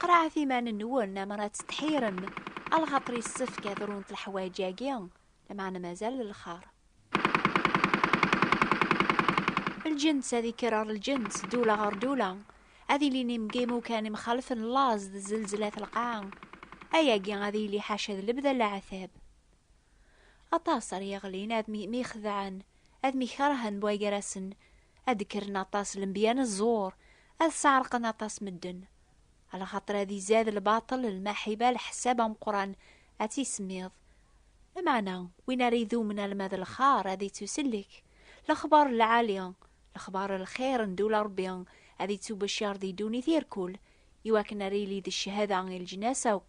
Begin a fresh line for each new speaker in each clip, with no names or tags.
Qeṛɛet iman-nwen amer ad tettḥirem, a lxaṭer yessefk ad runt leḥwayeǧ-agi, lameɛna mazal d lxeṛ. Lǧens ad ikker ɣer lǧens, ddula ɣer ddula, ad ilin imgimukan imxalfen laẓ d zelzla at lqaɛa, ayagi ad yili ḥaca d lebda n leɛtab. Aṭas ara yeɣlin ad myixedɛen, ad myikeṛhen bwaygarasen, Ad d-kkren aṭas lenbiya n ẓẓur, ad sɛerqen aṭas medden. Lxaṭer ad izad lbaṭel, lmaḥiba, leḥsab ameqqran, ad tt-isemmiḍ. Lameɛna, win ara idumen alma d lxar ad ittusellek. Lexbar n lɛali, lexbar n lxir n ddula Rebbi, ad ittubacar di ddunit irkul, iwakken ara yili d cchada i leǧnas akk.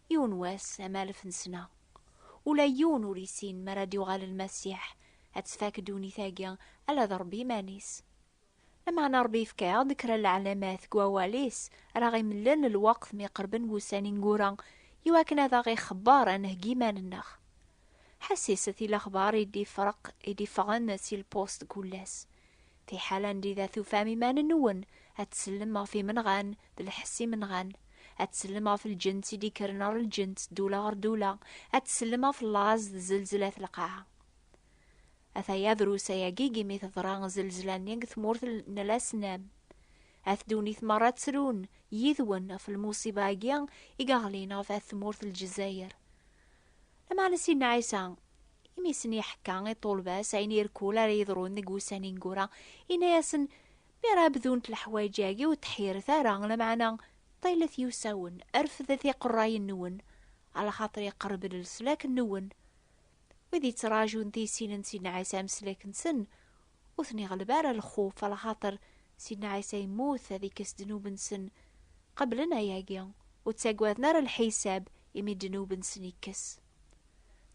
Yiwen wass am alef n sna, ula yiwen ur issin mara d-yuɣal Lmasiḥ, ad tfak ddunit-agi ala d Ṛebbi iman-is. Lameɛna Ṛebbi yefka-aɣ-d kra n lɛalamat deg Wawal-is ara aɣ-imlen lweqt mi qerben wussan ineggura iwakken ad aɣ-ixebber ad nheggi iman-nneɣ. Ḥessis-t i lexbar i d-ifreq i d-iffɣen si lpust n kullas. Fiḥel anda i d at-tufam iman-nwen, ad tsellem ɣef imenɣan, d lḥess imenɣan, ad tsellem ɣef lǧent i d-ikkren ɣer lǧent, ddula ɣer ddula, ad tsellem ɣef laẓ d zelzla at lqaɛa. Ataya drus ayagi i mi teḍra zelzla-nni deg tmurt n Lasnam. At ddunit merra ttrun yid-wen ɣef lmuṣiba-agi i yeɣlin ɣef at tmurt n Lezzayer. Lameɛna Sidna Ɛisa, imi sen-iḥekka i ṭṭulba-s ayen irkul ara yeḍrun deg wussan ineggura, yenna-yasen, Mi ara bdunt leḥwayeǧ-agi ur ttḥiret ara, lameɛna ṭilet yiwsawen, refdet iqerrayen-nwen, alaxaṭer iqerreb-d leslak-nwen. Wid yettraǧun tisin n Sidna Ɛisa ameslak-nsen, ur ten-iɣleb ara lxuf, alaxaṭer Sidna Ɛisa yemmut ad ikkes ddnub-nsen, qeblen ayagi, ur ttagaden ara lḥisab imi ddnub-nsen ikkes.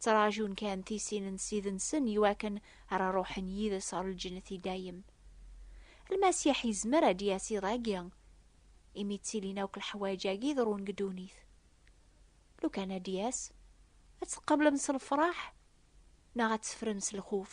Ttraǧun kan tisin n Ssid-nsen iwakken ara ruḥen yid-s ɣer lǧennet i dayem. Lmasiḥ yezmer ad d-yas iḍ-agi, imi ttilin akk leḥwayeǧ-agi iḍerrun deg ddunit. Lukan ad d-yas, ad t-tqablem s lefṛaḥ neɣ ad teffrem s lxuf?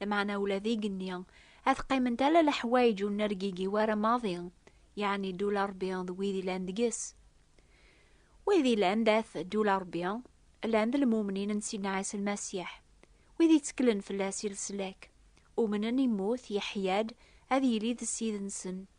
Lmeɛna ula d igenni, ad qqiment ala leḥwayeǧ ur nergigi wara maḍi, yeɛni ddul a Ṛebbi d wid ilan deg-s. Wid ilan dat ddul a Ṛebbi, llan d lmumnin n Sidna Ɛisa Lmasiḥ, wid itteklen fell-as i leslak, umnen, immut, yeḥya-d, ad yili d Ssid-nsen.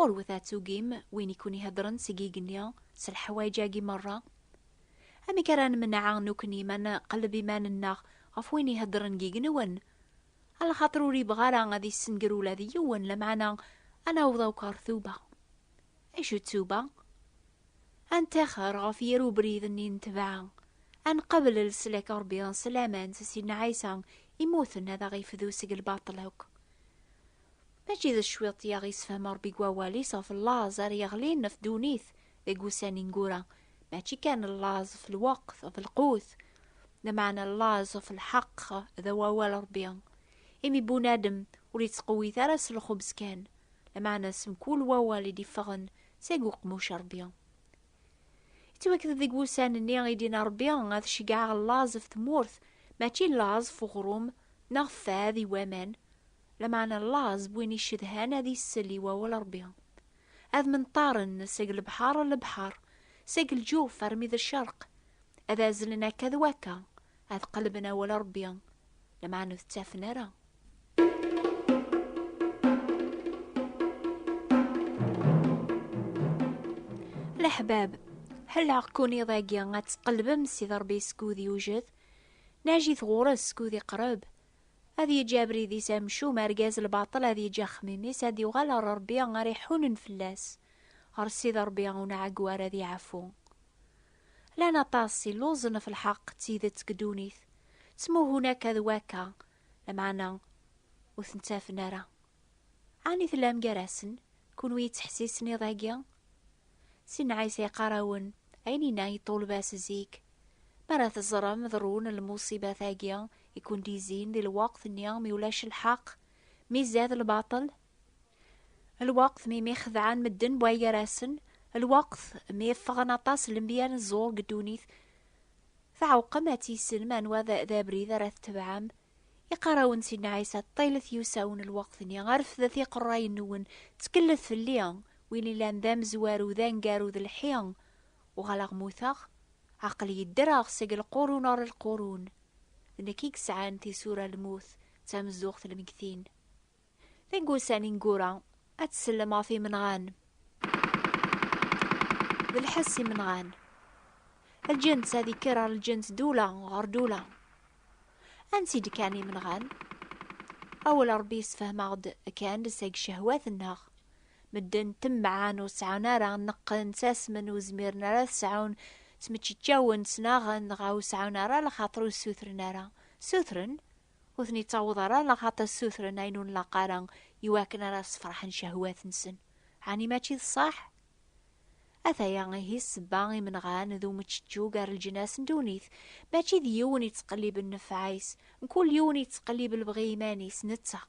Ɣurwet ad tugim win i ken-iheddren seg igenni s leḥwayeǧ-agi merra. Amek ara nemneɛ nukni ma nqelleb iman-nneɣ ɣef win iheddren deg igenwen? A lxaṭer ur ibɣa ara ad issenger ula d yiwen, lameɛna ad naweḍ akk ɣer tuba. Acu d tuba? Ad ntaxer ɣef yir ubrid-nni n tebɛa, ad nqabel leslak n Ṛebbi s laman s Sidna Ɛisa immuten ad aɣ-ifdu seg lbaṭel akk. Mačči d cwiṭ i aɣ-yessefhem Ṛebbi deg wawal-is ɣef llaẓ ara yeɣlin ɣef ddunit deg wussan ineggura, mačči kan llaẓ ɣef lweqt, ɣef lqut, lameɛna llaẓ ɣef lḥeqq d awawal Ṛebbi. Imi bunadem ur yettqewwit ara s lxubz kan, lameɛna s mkul wawal i d-iffɣen seg uqemmuc Ṛebbi. Yettwakked-d deg wussan-nni i d-yenna Ṛebbi ad ceggɛeɣ llaẓ ɣef tmurt, mačči llaẓ ɣef uɣrum neɣ ɣef fad i waman, Lameɛna llaẓ n win icedhan ad isell i wawal Ṛebbi. Ad menṭaren seg lebḥer ar lebḥer, seg lǧuf armi d ccerq, ad azzlen akka d wakka, ad qellben awal Ṛebbi, lameɛna ur t-ttafen ara. Leḥbab, ḥelleɣ-ken iḍ-agi ad tqellbem Sidi Ṛebbi skud yewjed, najjit ɣur-s skud iqreb, Ad yeǧǧ abrid-is amcum, argaz lbaṭel ad yeǧǧ axemmim-is, ad yuɣal ɣer Rebbi ara iḥunen fell-as, ɣer Ssid Rebbi ur nɛeggu ara ad iɛfu. Llan aṭas illuẓen ɣef lḥeqq d tidet deg ddunit, ttmuhun akka d wakka, lameɛna ur ten-ttafen ara. Ɛni tellam gar-asen, kunwi yettḥessisen iḍ-agi? Sidna Ɛisa yeqqar-awen ayen yenna i ṭṭulba-s zik, Mi ara teẓrem ḍerrun lmuṣibat-agi i ken-d-yezzin di lweqt-nni mi ulac lḥeqq, mi izad lbaṭel, lweqt mi myexdeɛen medden buɛ gar-asen, lweqt mi ffɣen aṭas lenbiya n ẓẓur deg ddunit, tɛewqem ad tissinem anwa d abrid ara tetebɛem. Iqqar-awen-d Sidna Ɛisa, Ṭṭilet yusa-wen lweqt-nni, refdet iqerrayen-nwen, ttkelllet fell-i, win yellan d amezwaru, d aneggaru, d lḥi, Uɣaleɣ mmuteɣ, aql-iyi ddreɣ seg lqurun ɣer lqurun, d nekk i yesɛan tisura lmut d tamezzuɣt lmegtin. Deg wussan ineggura, ad tsellem ɣef imenɣan. D lḥess imenɣan. Lǧens ad ikker ɣer lǧens dula ɣer dula. Ansi d-kkan imenɣan? Awal Rebbi yessefhem-aɣ-d kan seg cehwat-nneɣ. Medden temɛan ur sɛun ara nneqqen, ttasmen, ur zmiren ara ad sɛun, ttmeččeččawen, ttnaɣen, dɣa ur sɛun ara lxaṭer ur ssutren ara. Ssutren, ur ten-ittaweḍ ara lxaṭer ssutren ayen ur nlaq ara i wakken ara ssefraḥen cehwat-nsen. Ɛni mačči d ṣṣeḥ? Ataya ihi ssebba imenɣan d umeččečču gar leǧnas n ddunit. Mačči d yiwen yettqelliben nnfeɛ-is, mkul yiwen yettqellib lebɣi iman-is, netta.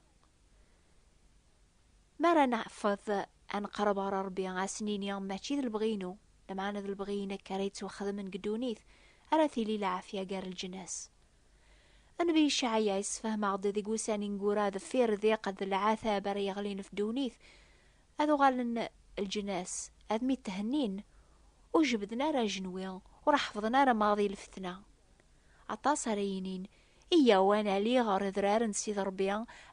Mi ara neɛfeḍ ad neqreb ɣer Rebbi, ad s-nini, Mačči d lebɣi-inu, lameɛna d lebɣi-inek ara yettwaxedmen deg ddunit, ara tili lɛafya gar leǧnas. Nnbi Icɛaya yessefhem-aɣ-d deg wussan ineggura deffir ddiq d lɛatab ara yeɣlin ɣef ddunit, ad uɣalen leǧnas ad myetthennin, ur jebbden ara ajenwi, ur ḥeffḍen ara maḍi lfetna. Aṭas ara yinin, Iyyaw ad nali ɣer Adrar n Sidi Ṛebbi,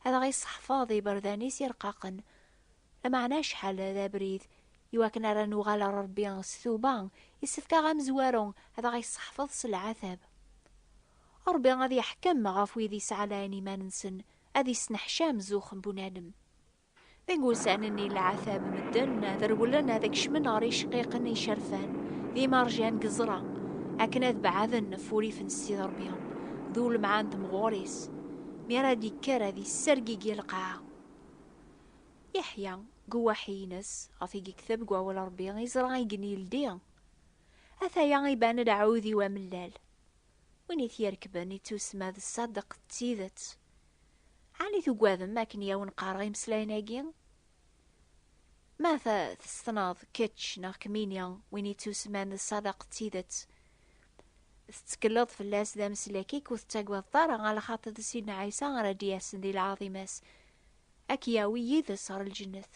ad aɣ-isseḥfaḍ d iberdan-is ireqqaqen. Lameɛna acḥal d abrid i wakken ara nuɣal ɣer Ṛebbi s tuba, issefk-aɣ amezwaru ad aɣ-isseḥfaḍ s leɛtab. Ṛebbi ad iḥkem ɣef wid isɛalayen iman-nsen, ad isneḥcam zuxx n bunadem. Deg wussan-nni n leɛtab, medden ad rewlen ad kecmen ɣer yiceqqiqen icerfan, d imerjan deg ẓẓra, akken ad beɛden ɣef wurrif n Ssid Ṛebbi d ulemɛa n temɣur-is, mi ara d-yekker ad yessergigi lqaɛa. Yeḥya, deg uwaḥi-ines, ɣef i yekteb deg Wawal n Ṛebbi, yeẓra i gen yeldi, Ataya iban-d aɛudiw amellal, win i t-yerkben, ittusemma d ṣṣadeq d tidet, Ɛni tugadem akken i awen-qqareɣ imeslayen-agi? Ma ta tessneḍ kečč neɣ kmini win yettusman d ṣṣadaq d tidet, tettekleḍ fell-as d ameslek-ik ur tettagadeḍ ara ɣer lxaṭi d Sidna Ɛisa ara d-yasen di lɛaḍima-s, ad k-yawi yid-s ɣer lǧennet.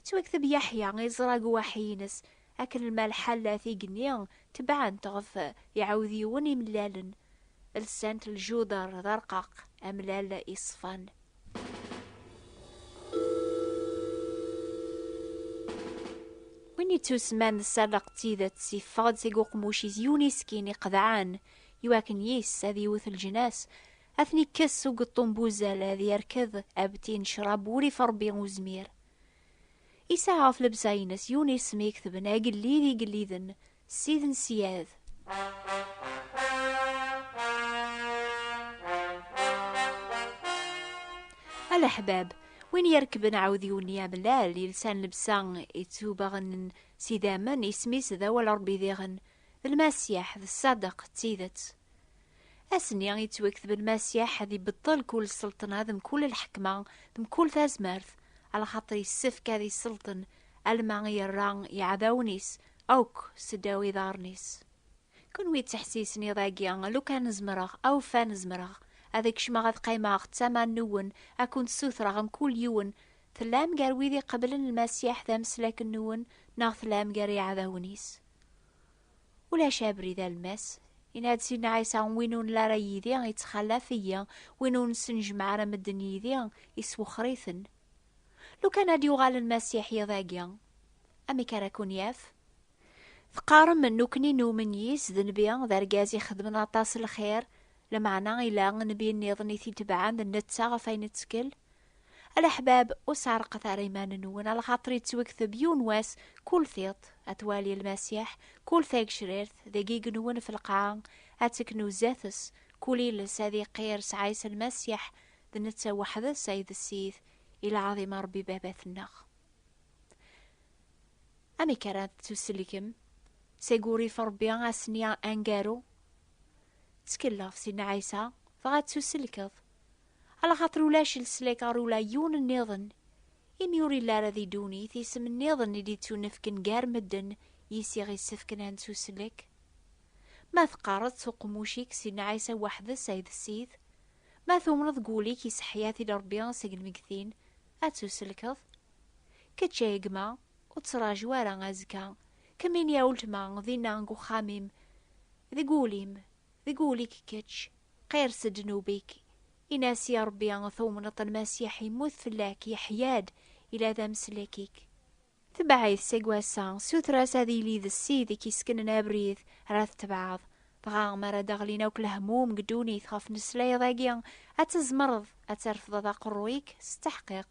Yettwakteb Yaḥya iẓra deg uwaḥi-ines, akken ma lḥalat igenni tebɛent ɣef iɛudiwen imellalen, lsant ljuder d arqaq amellal iṣfan. Win yettusman d ssadeq d tidet, yeffeɣ-d seg uqmuc-is yiwen iskin iqedɛen, iwakken yis ad yewwet lǧnas, Ad ten-ikkes s ugeṭṭum n wuzal, ad yerked abti n ccrab ur if Rebbi uzmir. Yesɛa ɣef lebsa-ines yiwen isem i ketben Agellid igelliden, Ssid n Syad. A leḥbab, win yerkben aɛudiw-nni amellal, yelsan lebsa ittubaɣen n s idammen, isem-is d awal n Rebbi diɣen d Lmasiḥ, d ṣṣadeq, d tidet. Ass-nni i yettwakteb Lmasiḥ ad ibeṭṭel kul sselṭna d mkul lḥekma d mkul tazmert, alaxaṭer yessefk ad isselṭen alma i yerra iɛdawen-is akk seddaw iḍarren-is. Kunwi ttḥessisen iḍ-agi, lukan zemreɣ, awfan zemreɣ, ad kecmeɣ ad qqimeɣ d tama nwen, ad kent-ssutreɣ mkul yiwen, tellam gar wid iqeblen Lmasiḥ d ameslak nwen neɣ tellam gar iɛdawen-is? Ulac abrid almas. Yenna-d Sidna Ɛisa, win ur nla ara yid-i, ittxalaf-iyi, win ur nesnejmeɛ ara medden yid-i, iswexxer-iten. Lukan ad d-yuɣal Lmasiḥ yiḍ-agi, amek ara ken-yaf? Teqqarem, Nekkni numen yis, d nnbi, d argaz ixedmen aṭas lxir, Lameɛna yella nnbi nniḍen i t-itebɛen d netta ɣef ayen ittkel? A leḥbab, ur sɛerqet ara iman-nwen, a lxaṭer yettwekteb yiwen wass kul tiṭ, ad twali Lmasiḥ, kul tagecrirt, deg igenwen ɣef lqaɛa, ad teknu zdat-s, kul iles ad iqqir s Ɛisa Lmasiḥ, d netta weḥd-s ay d Ssid, i lɛaḍim a Rebbi Baba-tneɣ. Amek ara tettusellkem? Seg urrif n Rebbi ass-nni aneggaru? Ttkelleɣ si Nna Ɛisa, dɣa ttuselkeḍ. Ala xaṭer ulac leslak ɣer ula yiwen nniḍen, imi ur illi ara di ddunit isem nniḍen i d-ittunefken gar medden yis i ɣ-issefken ad nettuslek. Ma teqqareḍ s uqemmuc-ik si Nna Ɛisa weḥd-s ay d Ssid, ma tumneḍ deg wul-ik iseḥḥi-at-id Rebbi seg lmeggtin, ad ttuselkeḍ. Kečč ay gma, Ur ttraǧu ara azekka. Kemmini a uletma dinna deg uxxam-im, deg wul-im, deg wul-ik kečč, qirres-d ddnub-ik, in-as i Ṛebbi tumneḍ-t Lmasiḥ yemmut fell-ak, yeḥya-d, yella d ameslek-ik. Tebɛ-it seg wass-a, suter-as ad yili d Ssid i k-yessknen abrid ara tetbeɛeḍ. Dɣa mi ara d-ɣlin akk lehmum deg ddunit ɣef tmeslayeḍ-agi, ad tzemreḍ ad trefdeḍ aqerruy-ik s tteḥqiq.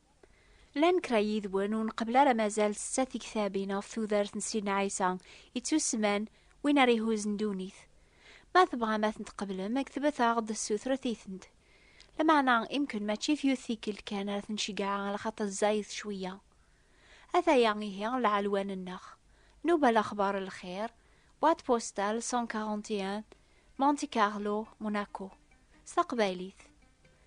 Llan kra yid-wen ur nqebbel ara mazal setta tiktabin ɣef tudert n Sidna Ɛisa ittusemman Win ara ihuzzen ddunit. Ma tebɣam ad tent-tqeblem, ktbet-aɣ-d ssutret-itent. Lameɛna imken mačči f yiwet tikkelt kan ara ten-ceggɛeɣ ala xaṭer zzayed cwiyya. Ataya ihi lɛelwan-nneɣ. Nubal Axbar n Lxir, Boîte postale 141, Monte Carlo, Monaco. S taqbaylit.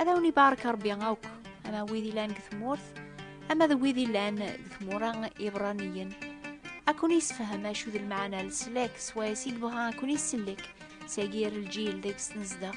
Ad awen ibarek Rebbi akk, ama wid ilan deg tmurt, ama d wid ilan deg tmura ibraniyen. Ad ken-yessefhem acu d lmeɛna n leslak s wayes i yebɣa ad ken-isellek s agir lǧil deg-s nezdeɣ.